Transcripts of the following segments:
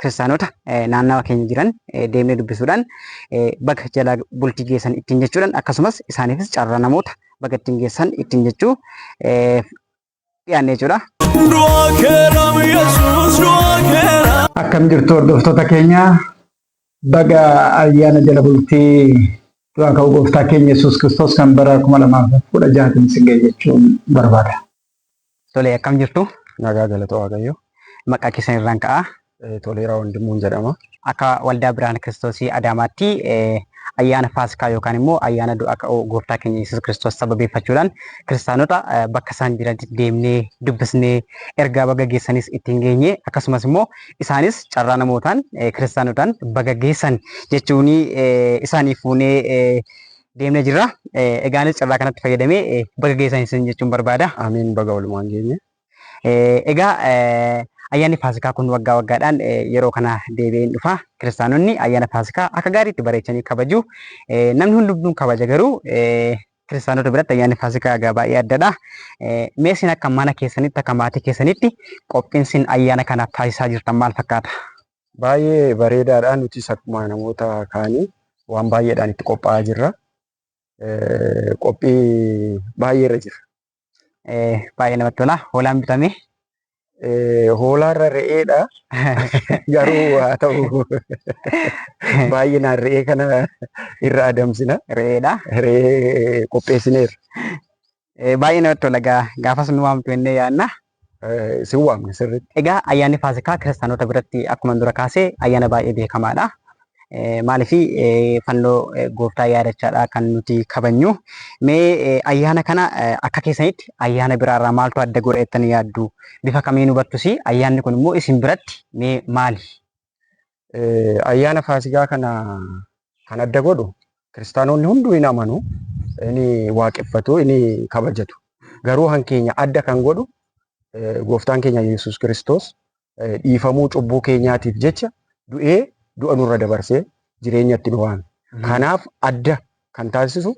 kiristaanota naannawa keenya jiran deemnee dubbisuudhaan baga jala bultii geessan ittiin jechuudhaan akkasumas isaaniifis carraa namoota baga ittiin geessan ittiin jechuu dhiyaannee jechuudha. Akkam jirtu hordoftoota keenya baga ayyaana jala bultii du'aa ka'uu gooftaa keenya Yesuus Kiristoos kan bara kuma lamaaf kudha jahaatiin isin ga'e jechuun barbaada. Tole akkam jirtu? Nagaa galata Waaqayyoo. Maqaa keessan irraan ka'aa. Eh, Toleeraa Wandimmuun jedhama. Akka waldaa Birhaan Kiristoosii Adaamaatti eh, ayyaana Faasikaa yookaan immoo ayyaana du'a ka'uu gooftaa keenya Yesuus Kiristoos sababeeffachuudhaan kiristaanota eh, bakka isaan jiranitti deemnee dubbisnee ergaa baga geessanis ittiin geenye akkasumas immoo isaanis carraa namootaan eh, kiristaanotaan baga geessan jechuun eh, isaanii fuunee eh, deemnee jirra. Eh, Egaanis carraa kanatti fayyadamee eh, baga geessan isin jechuun barbaada. Ameen baga walumaan geenye. Eh, Egaa eh, ayyaanni Faasikaa kun waggaa waggaadhaan eh, yeroo kana deebi'een dhufa. Kiristaanonni ayyaana Faasikaa akka gaariitti bareechanii kabaju. Eh, Namni hundumtuu kabaja garuu eh, kiristaanota biratti ayyaanni Faasikaa egaa baay'ee addadha. Eh, Mee isin akka mana keessanitti akka maatii keessanitti qophiin isin ayyaana kanaaf taasisaa jirtan maal fakkaata? Baay'ee bareedaadha. Nutis akkuma namoota kaanii waan baay'eedhaan itti qophaa'aa jirra. Qophii baay'eerra jirra. Baay'ee namatti tola. Hoolaan bitamee. Hoolaarra re'eedha. Garuu haa ta'u baay'inaan re'ee kana irra adamsina. Re'eedha. Re'ee qopheessineerra. Eh, Baay'ee namatti tola egaa gaafas nu waamtu jennee yaadna. Eh, Isin waamne sirriitti. Egaa ayyaanni Faasikaa kiristaanota biratti akkuma dura kaase ayyaana baay'ee beekamaadha. Eh, Maaliif eh, fannoo eh, gooftaa yaadachaadha kan nuti kabajnu. Mee eh, ayyaana kana eh, akka keessanitti ayyaana biraarraa maaltu adda godha jettanii yaaddu? Bifa kamiin hubattus ayyaanni kun immoo isin biratti mee maali? Ayyaana Faasigaa kana kan adda godhu kiristaanoonni hunduu hin amanu, hin waaqeffatu, hin kabajatu. Garuu kan keenya adda kan godhu gooftaan keenya Yesuus Kiristoos dhiifamuu cubbuu keenyaatiif jecha du'ee du'a nurra dabarsee jireenyatti nu waame. Kanaaf adda kan taasisu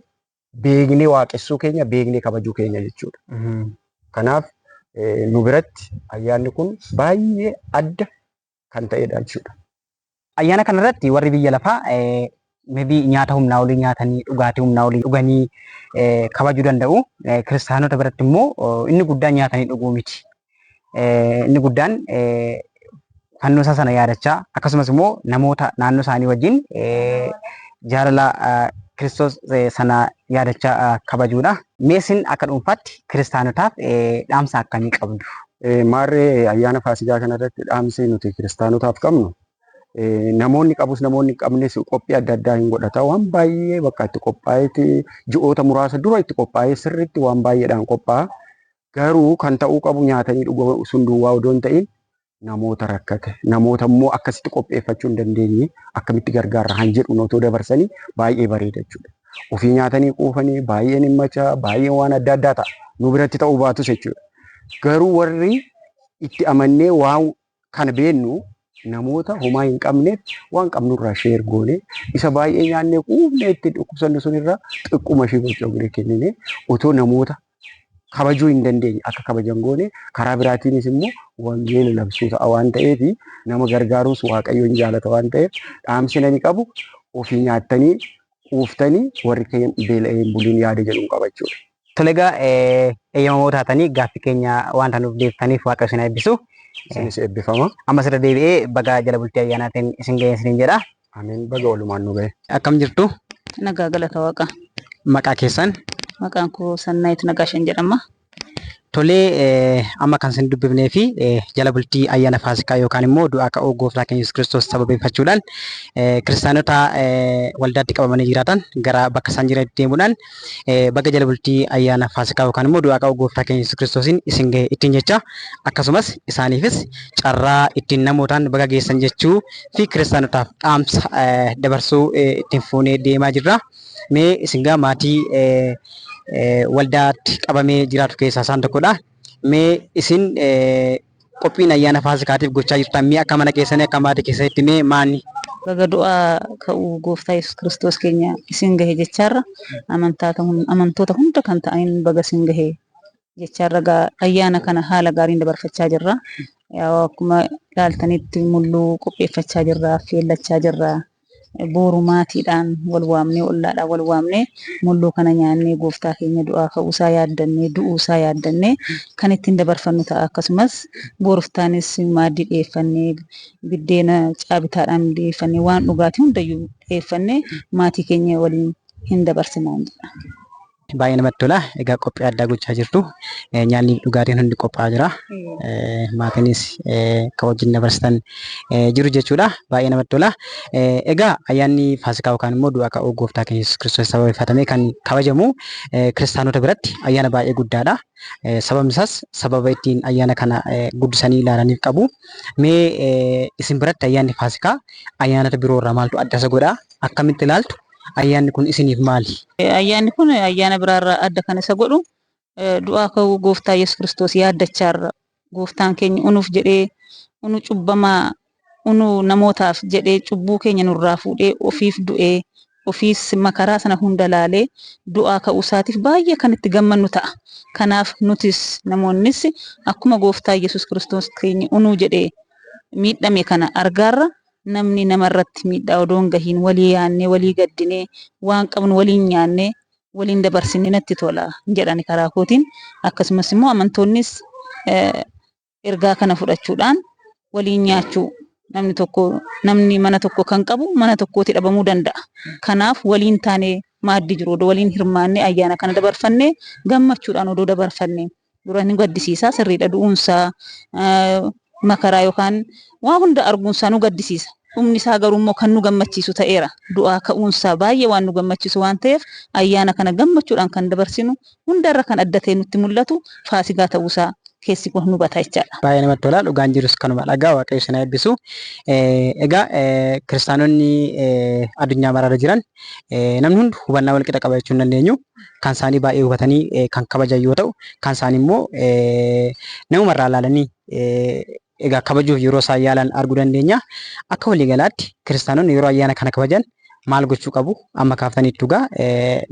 beeknee waaqessuu keenya, beeknee kabajuu keenya jechuudha. Kanaaf nu biratti ayyaanni kun baay'ee adda kan ta'edha jechuudha. Ayyaana kanarratti warri biyya lafaa mebii nyaata humnaa olii nyaatanii dhugaatii humnaa olii dhuganii kabajuu danda'u. Kiristaanota biratti immoo inni guddaan nyaatanii dhuguu miti. Inni guddaan fannoo isaa sana yaadachaa akkasumas immoo namoota naannoo isaanii wajjin jaalala Kiristoos sana yaadachaa kabajuudha. Meesin akka dhuunfaatti kiristaanotaaf dhaamsa akkamii qabdu? Eh, Maarree eh, ayyaana Faasigaa kanarratti dhaamsi nuti kiristaanotaaf qabnu eh, namoonni qabus namoonni hin qabnes qophii adda addaa hin godhata. Waan baay'ee bakka itti qophaa'eeti ji'oota muraasa dura itti qophaa'ee sirriitti waan baay'eedhaan qophaa'a. Garuu kan ta'uu qabu nyaatanii dhuguu sun duwwaa odoo hin ta'in namoota rakkate namoota immoo akkasitti qopheeffachuu hin dandeenye akkamitti gargaarra kan jedhu otoo dabarsanii baay'ee bareeda jechuudha. Ofii nyaatanii quufanii baay'een hin macha baay'een waan adda addaa ta'a nu biratti ta'uu baatus jechuudha. Garuu warri itti amannee waan kana beennu namoota homaa hin qabneef waan qabnurraa sheer goone isa baay'ee nyaannee quufnee itti dhukkubsannu sunirraa xiqquma ishii bocoqnee kennine otoo namoota kabajuu hin dandeenye akka kabajan goone karaa biraatiinis immoo wangeela labsuu ta'a waan ta'eef nama gargaaruus waaqayyoon jaalata waan ta'eef dhaamsina ni qabu ofii nyaattanii quuftanii warri keenya beela'ee hin buliin yaada jedhuun qaba jechuudha. Tole egaa eeyyamamoo taatanii gaaffii keenya wanta nuuf deebitaniif Waaqayyo isin haa eebbisu. Isinis eebbifama. Ammas irra deebi'ee bagaa jala bultii ayyaanaatiin isin ga'een isiniin jedha. Ameen baga walumaan nu ga'e. Akkam jirtu? Nagaa galata waaqa. Maqaa keessan? Maqaan koo Sannaayit Nagaashan jedhama. Tolee amma kan isin dubbifnee fi jala bultii ayyaana faasikaa yookaan immoo du'aa ka'uu gooftaa keenya Yesuus Kiristoos sababeeffachuudhaan kiristaanota waldaatti qabamanii jiraatan gara bakka isaan jiranitti deemuudhaan baga jala bultii ayyaana faasikaa yookaan immoo du'aa ka'uu gooftaa keenya Yesuus Kiristoosiin isin gahe ittiin jecha akkasumas isaaniifis carraa ittiin namootaan baga geessan jechuu fi kiristaanotaaf dhaamsa dabarsuu ittiin fuunee deemaa jirra. Mee isin gaa maatii waldaatti qabamee jiraatu keessaa isaan tokkodha. Mee isin qophiin ayyaana faasikaatiif gochaa jirtan mee akka mana keessanii akka maatii keessanitti mee maani? Baga du'aa ka'uu gooftaa Yesus Kiristoos keenya isin gahe jechaarra amantoota hunda kan ta'aniin baga isin gahe jechaarra ayyaana kana haala gaariin dabarfachaa jirra. Akkuma ilaaltanitti mulluu qopheeffachaa jirra, affeellachaa jirra. Booru maatiidhaan wal waamnee, ollaadhaan wal waamnee mulluu kana nyaannee Gooftaa keenya du'aa ka'uu isaa yaaddannee, du'uu isaa yaaddannee kan ittiin dabarfannu ta'a. Akkasumas booruftaanis maaddii dhiyeeffannee, biddeena caabitaadhaan dhiyeeffannee, waan dhugaatii hundayyuu dhiyeeffannee maatii keenya waliin hin dabarsinaan jedha. Baay'ee namatti tola. Egaa qophii addaa gochaa jirtu. Eh, Nyaanni fi dhugaatiin hundi qophaa'aa jira. Eh, Maatiinis eh, kan wajjin dabarsitan eh, jiru jechuudha. Baay'ee namatti tola. Eh, Egaa ayyaanni Faasikaa yookaan immoo du'a ka'uu gooftaa keenya Yesuus Kiristoos sababeeffatamee kan kabajamu eh, kiristaanota biratti ayyaana baay'ee guddaadha. Eh, Sababni isaas sababa ittiin ayyaana kana eh, guddisanii ilaalaniif qabu. Mee eh, isin biratti ayyaanni Faasikaa ayyaanota biroo irraa maaltu adda isa godha? Akkamitti ilaaltu? Ayyaanni kun isiniif maali? Ayyaanni kun ayyaana biraarraa adda kan isa godhu du'aa ka'uu gooftaa Yesus Kiristoos yaaddachaarra gooftaan keenya unuuf jedhee unu cubbamaa unu namootaaf jedhee cubbuu keenya nurraa fuudhee ofiif du'ee ofiis makaraa sana hunda laalee du'aa ka'uu isaatiif baay'ee kan itti gammannu ta'a. Kanaaf nutis namoonnis akkuma gooftaa Yesus Kiristoos keenya unu jedhee miidhame kana argaarra Namni nama irratti miidhaa odoo hin gahiin walii yaannee, walii gaddinee, waan qabnu waliin nyaannee, waliin dabarsine natti tola jedha ani karaa kootiin. Akkasumas immoo amantoonnis ergaa kana fudhachuudhaan waliin nyaachuu namni tokko namni mana tokko kan qabu mana tokkooti dhabamuu danda'a. Kanaaf waliin taanee maaddii jiru odoo waliin hirmaannee ayyaana kana dabarfannee gammachuudhaan odoo dabarfannee. Dura ni gaddisiisa sirriidha du'uunsaa makaraa yookaan waa hunda arguunsaa nu gaddisiisa. Dhumni isaa garuu immoo kan nu gammachiisu ta'eera. Du'aa ka'uunsaa baay'ee waan nu gammachiisu waan ta'eef ayyaana kana gammachuudhaan kan dabarsinu hundarra kan adda ta'ee nutti mul'atu Faasigaa ta'uusaa keessi koo hin hubata jechaadha. Baay'ee namatti tola dhugaan jirus kanuma dhagaa waaqayyo isin haa eebbisu. Egaa kiristaanonni addunyaa maraarra jiran namni hundu hubannaa walqixa qaba jechuu hin dandeenyu. kan isaanii baay'ee hubatanii kan kabajan yoo ta'u, kan isaanii immoo namuma irraa ilaalanii egaa kabajuuf yeroo isaan yaalan arguu dandeenya. Akka waliigalaatti kiristaanonni yeroo ayyaana kana kabajan maal gochuu qabu? Amma kaaftaniittu egaa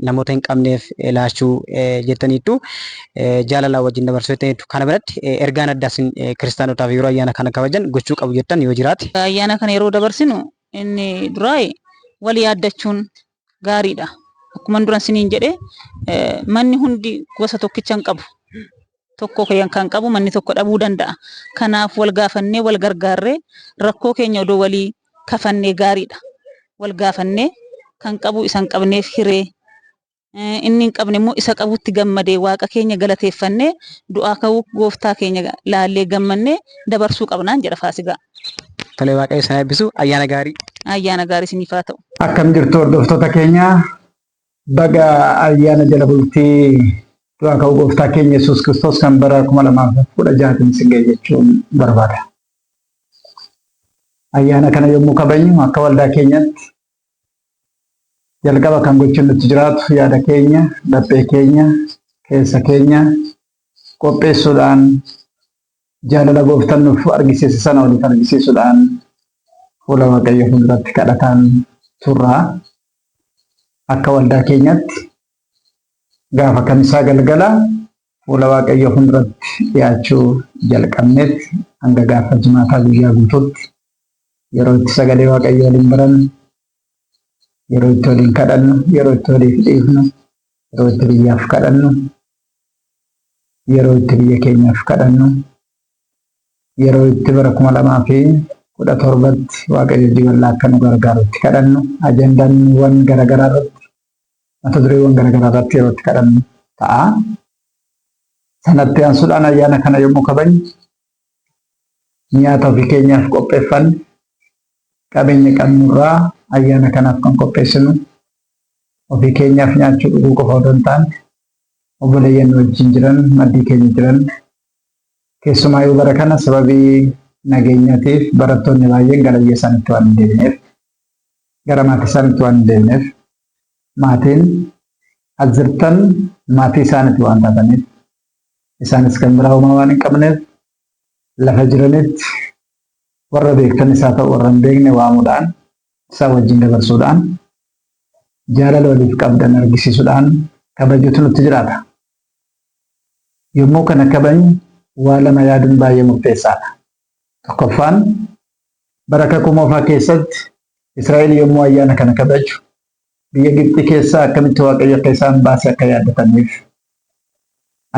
namoota hin qabneef laachuu jettaniittu jaalalaa wajjin dabarsuu jettaniittu. Kana biratti ergaan addaa isin kiristaanotaaf yeroo ayyaana kana kabajan gochuu qabu jettan yoo jiraate? Ayyaana kana yeroo dabarsinu inni duraa wal yaaddachuun gaariidha. Akkuman duran siniin jedhe eh, manni hundi gosa tokkicha hin qabu. Tokko kan kan qabu manni tokko dhabuu danda'a. Kanaaf wal gaafannee wal gargaarree rakkoo keenya odoo walii kafannee gaariidha. Wal gaafannee kan qabu isa hin qabneef hiree eh, inni hin qabne immoo isa qabutti gammadee waaqa keenya galateeffannee du'aa ka'uu gooftaa keenya laallee gammannee dabarsuu qabnaan jedha faasigaa. Tole waaqayyo isin haa eebbisu. Ayyaana gaarii. Ayyaana gaarii isiniif haa ta'u. Akkam jirtu hordoftoota keenya baga ayyaana jala bultii du'aa ka'uu gooftaa keenya Yesuus Kiristoos kan bara 2016tiin isin ga'e jechuun barbaada. Ayyaana kana yommuu kabajnu akka waldaa keenyatti jalqaba kan gochuun nutti jiraatu yaada keenya, laphee keenya, keessa keenya qopheessuudhaan Jaalala gooftan nuf argisiise sana waliif argisiisudhaan fuula Waaqayyoo fulduratti kadhataan turra. Akka waldaa keenyatti gaafa kamisaa galgala fuula Waaqayyoo fulduratti dhiyaachuu jalqabneet hanga gaafa jimaataa guyyaa guutuutti yeroo itti sagalee Waaqayyoo waliin barannu, yeroo itti waliin kadhannu, yeroo itti waliif dhiifnu, yeroo itti biyyaaf kadhannu, yeroo itti biyya keenyaaf kadhannu, yeroo itti bara kuma lamaa fi kudha torbatti waaqayyo hojii bal'aa akka nu gargaaru itti kadhannu, ajandaawwan garaagaraa irratti, mata dureewwan garaagaraa irratti yeroo itti kadhannu ta'a. Sanatti aansuudhaan ayyaana kana yommuu kabajnu Nyaata ofii keenyaaf qopheeffanne, qabeenya qabnu irraa ayyaana kanaaf kan qopheessinu ofii keenyaaf nyaachuu dhuguu qofa odoo hin taane obboleeyyan nu wajjin jiran maddii keenya jiran keessumaa yoo bara kana sababii nageenyatiif barattoonni baay'een gara biyya isaaniitti waan hin deebineef gara maatii isaaniitti waan hin deebineef maatiin as jirtan maatii isaaniitti waan taataniif Isaanis kan biraa homaa waan hin qabneef lafa jiranitti warra beektanis haa ta'u warra hin beekne waamuudhaan isaa wajjin dabarsuudhaan jaalala waliif qabdan argisiisuudhaan kabajuutu nutti jiraata. Yommuu kana kabajnu waa lama yaaduun baay'ee murteessaadha. Tokkoffaan bara kakuu moofaa keessatti Israa'el yommuu ayyaana kana kabaju Biyya Gibxii keessaa akkamitti Waaqayyo akka isaan baase akka yaadataniif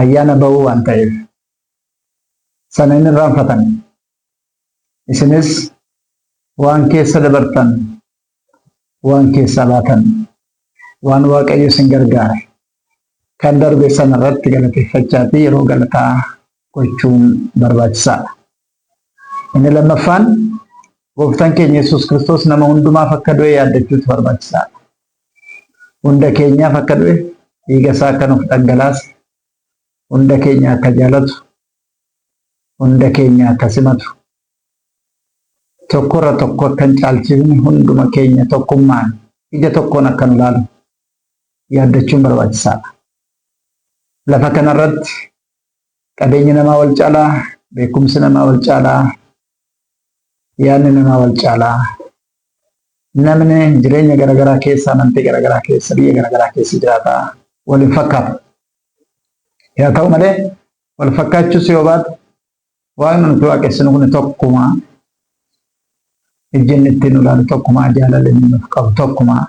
ayyaana ba'uu waan ta'eef sana hin irraanfatan. Isinis waan keessa dabartan, waan keessaa baatan, waan Waaqayyo isin gargaare kan darbe sana irratti galateeffachaa fi yeroo galataa gochuun barbaachisaadha. Inni lammaffaan gooftaan keenya Yesuus Kiristoos nama hundumaaf akka du'e yaaddachuutu barbaachisaadha. Hunda keenyaaf akka du'e dhiiga isaa akka nuuf dhangalaase hunda keenya akka jaalatu hunda keenya akka simatu tokkorra tokko akka hin caalchifne hunduma keenya tokkummaan ija tokkoon akka nu laalu yaaddachuun barbaachisaadha. Lafa kanarratti qabeenyi namaa wal caalaa, beekumsi namaa wal caalaa, yaadni namaa wal caalaa. Namni jireenya garaagaraa keessa, amantii garaagaraa keessa, biyya garaagaraa keessa jiraata. Wal hin fakkaatu. Yaa ta'u malee wal fakkaachuus yoo baatu Waan nuti waaqessinu kun tokkumaa ejjenni ittiin nu ilaalu tokkumaa jaalala inni nuuf qabu tokkumaa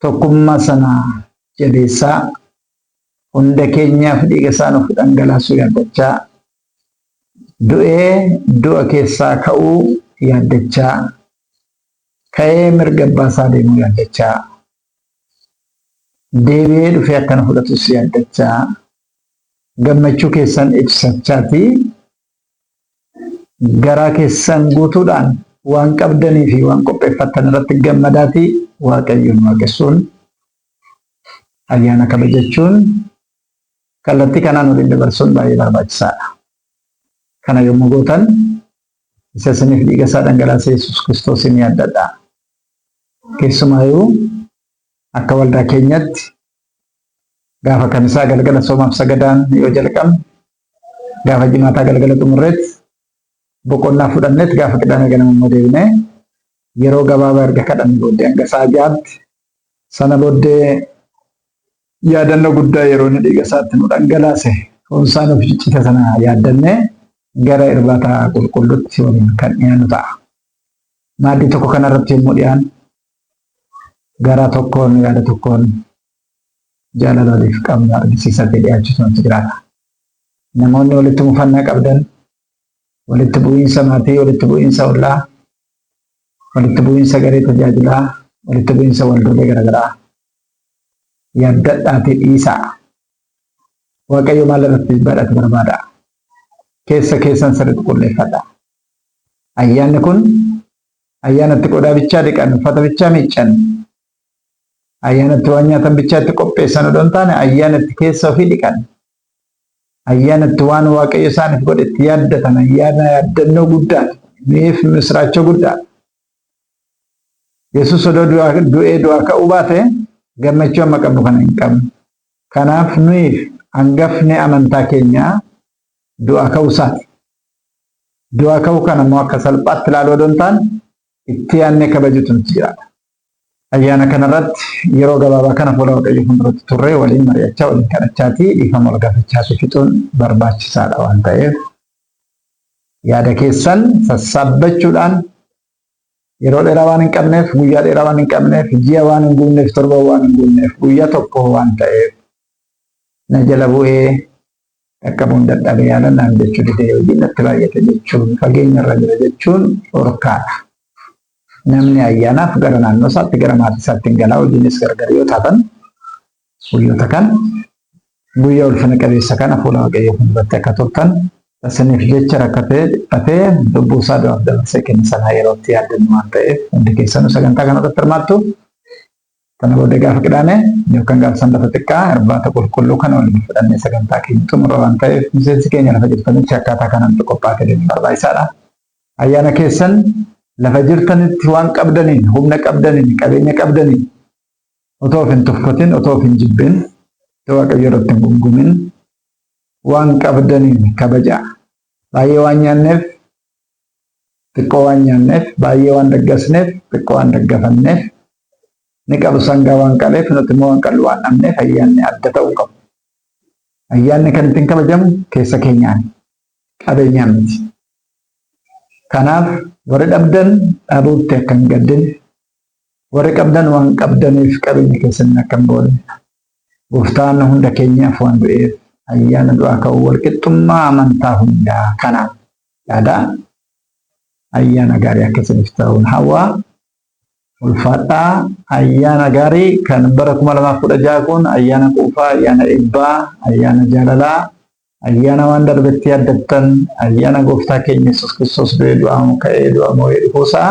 tokkummaa sana jabeessaa hunda keenyaaf dhiiga isaa nuuf dhangalaasuu yaaddachaa du'ee du'a keessaa ka'uu yaaddachaa ka'ee mirga abbaa isaa deemuu yaaddachaa deebi'ee dhufee akka na fudhatu si abdachaa gammachuu keessan ibsachaati garaa keessan guutuudhaan waan qabdanii fi waan qopheeffattan irratti gammadaati waaqayyoon waaqessuun ayyaana kabajachuun kallattii kanaan waliin dabarsuun baay'ee barbaachisaadha. Kana yommuu gootan isa isiniif dhiiga isaa dhangalaase Yesuus Kiristoosiin yaaddadha. Keessumaayuu akka waldaa keenyatti gaafa kamisaa galgala soomaaf sagadaan yoo jalqabne gaafa jimaataa galgala xumurreet boqonnaa fudhanneet gaafa qidaamee ganama immoo deebinee yeroo gabaabaa erga kadhanne booddee hanga sa'a ja'aatti sana booddee Yaadannoo guddaa yeroo inni dhiiga isaa itti nu dhangalaase foon isaa nuuf ciccite sana yaaddannee gara irbaata qulqulluutti waliin kan dhiyaannu ta'a. Maaddii tokko kana irratti yommuu dhiyaannu garaa tokkoon yaada tokkoon jaalala waliif qabnu argisiisatee dhiyaachuutu nutti jiraata. Namoonni walitti mufannaa qabdan walitti bu'iinsa maatii, walitti bu'iinsa ollaa, walitti bu'iinsa garee tajaajilaa, walitti bu'iinsa waldoolee garaagaraa yaaddadhaatii dhiisaa. Waaqayyo maal irratti jibbaadhaati barbaada? Keessa keessan sirriitti qulleeffadha. Ayyaanni kun ayyaanatti qodaa bichaa dhiqan, uffata bichaa miiccan, ayyaanatti waan nyaatan bichaa itti qopheessan odoo hin taane ayyaanatti keessa ofii dhiqan, Ayyaana itti waan Waaqayyo isaaniif godhe itti yaaddatan ayyaana yaaddannoo guddaati. Nuyiif misiraachoo guddaadha. Yesus odoo du'ee du'aa ka'uu baate gammachuu amma qabnu kana hin qabnu. Kanaaf nuyiif hangafni amantaa keenyaa du'aa ka'uu isaati. Du'aa ka'uu kana immoo akka salphaatti ilaaluu odoo hin taane itti yaadnee kabajuutu nutti jiraata. Ayyaana kanarratti yeroo gabaabaa kana fuula Waaqayyoo fuulduratti turree waliin mari'achaa, waliin kadhachaatii dhiifama wal gaafachaasii fixuun barbaachisaadha waan ta'eef yaada keessan sassaabbachuudhaan yeroo dheeraa waan hin qabneef, guyyaa dheeraa waan hin qabneef, ji'a waan hin guunneef, torban waan hin guunneef, guyyaa tokko waan ta'eef na jala bu'ee Dhaqqabuun dadhabe yaala naaf jechuu dide hojiin natti baay'ate jechuun fageenyarra jira jechuun dhorkaadha. Namni ayyaanaaf gara naannoosaatti gara maatiisaatti hin gala hojiinis gargar yoo taatan guyyoota kana guyyaa ulfina qabeessa kana fuula Waaqayyoo fuulduratti akka turtan isiniif jecha rakkatee dhiphatee lubbuusaa du'aaf dabarsee kenne sanaa yerootti yaaddannu waan ta'eef hundi keessanuu sagantaa kanarratti hirmaattu Sana booda gaafa Qidaamee yookaan gaafa Sanbata xiqqaa irbaata qulqulluu kana waliin fudhannee sagantaa keenya xumurra waan ta'eef miseensi keenya lafa jirtanitti akkaataa kanaan qophaa'aa deemuun barbaachisaadha. Ayyaana keessan lafa jirtanitti waan qabdaniin, humna qabdaniin, qabeenya qabdaniin otoo of hin tuffatin, otoo of hin jibbin, otoo Waaqayyo irratti hin gumgumin waan qabdaniin kabajaa. Baay'ee waan nyaanneef Xiqqoo waan nyaanneef, baay'ee waan daggasneef, xiqqoo waan daggafanneef, inni qalu sangaa waan qaleef, nuti immoo waan qallu waan dhabneef ayyaanni adda ta'uu hin qabu. Ayyaanni kan ittiin kabajamu keessa keenyaani. Qabeenyaan miti. Kanaaf warri dhabdan dhabuutti akka hin gaddine, warri qabdan waan qabdaniif qabeenya keessaniin akka hin boonne, Gooftaan hunda keenyaaf waan du'eef ayyaana du'aa ka'uu walqixxummaa amantaa hundaa kana yaada ayyaana gaarii akka isiniif ta'uun hawwaa ulfaadhaa ayyaana gaarii kan bara 2016 kun ayyaana quufaa ayyaana eebbaa ayyaana jaalalaa ayyaana waan darbetti yaaddattan ayyaana gooftaa keenya yesus kiristoos du'ee du'aa ka'ee du'aa moo'ee dhufuusaa